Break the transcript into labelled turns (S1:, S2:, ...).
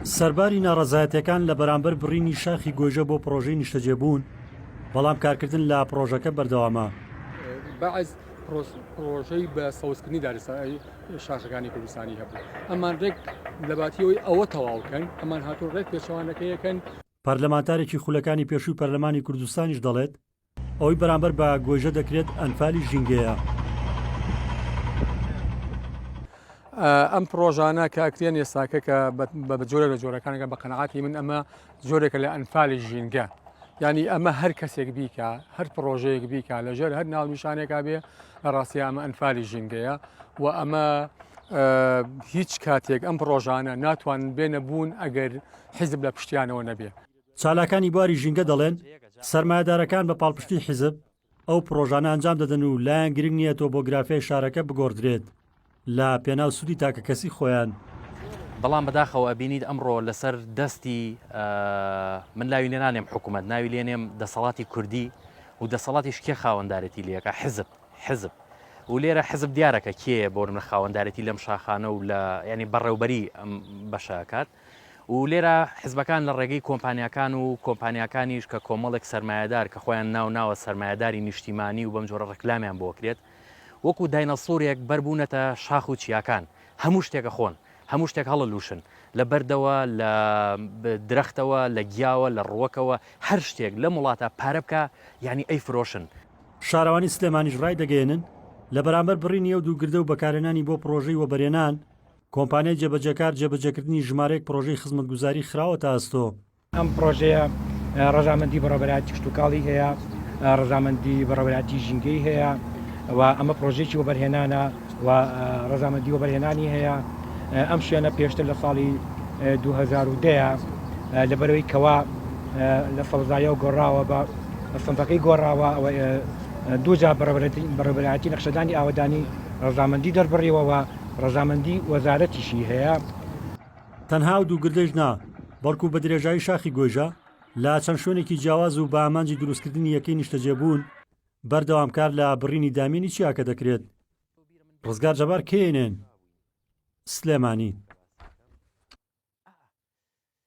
S1: سەرباری ناڕەزایەتیەکان لە بەرامبەر بڕینی شاخی گۆیژە بۆ پڕۆژەی نیشتەجێبوون بەڵام کارکردن لە پڕۆژەکە بەردەوامە بەعز
S2: پرۆژەی بە سەوزکردنی دارستانی شاخەکانی کوردستانی هەبوو ئەمان ڕێک لەباتیەوەی ئەوە تەواوکەن ئەمان هاتو ڕێک پێچوانەکەیەکەن پەرلەمانتارێکی
S1: خولەکانی پێشووی پەرلەمانی کوردستانیش دەڵێت ئەوەی بەرامبەر بە گۆیژە دەکرێت ئەنفالی ژینگەیە.
S2: ئەم پرۆژانە کە ئەکرێن ئێستاکە کە بە جۆرە لە جۆرەکانەکە بە قەنەعاتی من ئەمە جۆرێکە لە ئەنفالی ژینگە ینی ئەمە هەر کەسێک بیکە هەر پرۆژەیەک بیکە لەژێر هەر ناونیشانێکا بێ لە ڕاستی ئەمە ئەنفالی ژینگەیە و ئەمە هیچ کاتێک ئەم پرۆژانە ناتوان بێنە بوون ئەگەر حیزب لە پشتیانەوە نەبێ چالاکانی بواری
S1: ژینگە دەڵێن، سەرمایەدارەکان بە پاڵپشتی حیزب ئەو پڕۆژانە ئەنجام دەدەن و لایان گرنگ نییە تۆبۆگرافیای شارەکە بگۆڕدرێت لە پێناو سوودی تاکەکەسی خۆیان. بەڵام
S3: بەداخەوە ئەبینیت ئەمڕۆ لەسەر دەستی، من ناوی لێ نانێم حکومەت، ناوی لێ نێم دەسەڵاتی کوردی و دەسەڵاتیش کێ خاوەندارێتی لێ ئەکا؟ حیزب، حیزب. و لێرە حیزب دیارە کە کێیە بۆ نمرە خاوەندارێتی لەم شاخانە و لە یانی بەڕێوبەری ئەم بەشە ئەکات. و لێرە حزبەکان لە ڕێگەی کۆمپانیاکان و کۆمپانیاکانیش کە کۆمەڵێک سەرمایەدار کە خۆیان ناو ناوە سەرمایەداری نیشتیمانی و بەم جۆرە ڕکلامیان بۆ کرێت وەکو داینەسورێک بەربوونەتە شاخ و چیاکان هەموو شتێکە خۆن هەموو شتێک هەڵە لوشن لە بەردەوە لە درەختەوە لە گیاوە لە ڕوەکەوە هەر شتێک لە وڵاتە پارە بکە یعنی ئەی فرۆشن. شارەوانی
S1: سلێمانیش ڕایدەگەیەنن، لە بەرامبەر بڕینی ئەو دوو گردە و بەکارهێنانی بۆ پڕۆژەی وەبەرێنان، کۆمپانیای جێبەجێکار جێبەجێکردنی ژمارەیەک پڕۆژەی خزمەتگوزاری خراوەتە ئەستۆ. ئەم پڕۆژەیە
S4: ڕەزامەندی بەڕێوەبەرایەتی کشتوکاڵی هەیە، ڕەزامەندی بەڕێوەبەرایەتی ژینگەی هەیە و ئەمە پڕۆژەیەکی وەبەرهێنانە و ڕەزامەندی وەبەرهێنانی هەیە. ئەم شوێنە پێشتر لە ساڵی دوو هەزار و دە لەبەرەوەی کەوا لە سەوزاییەوە گۆڕاوە بە سنفەکەی گۆڕاوە و دوو جار بەڕێوەبەرایەتی نەخشەدانی ئاوەدانی ڕەزامەندی دەربڕیوە و ڕەزامەندی وەزارەتیشی هەیە. تەنها
S1: ئەو دوو گردەیش نا، بەڵکو بە درێژایی شاخی گۆیژە، لە چەند شوێنێکی جیاواز و بە ئامانجی دروستکردنی یەکەی نیشتەجێبوون، بەردەوام کار لە بڕینی دامێنی چیاکە دەکرێت. ڕزگار جەبار، کەیێنێن، سلێمانی.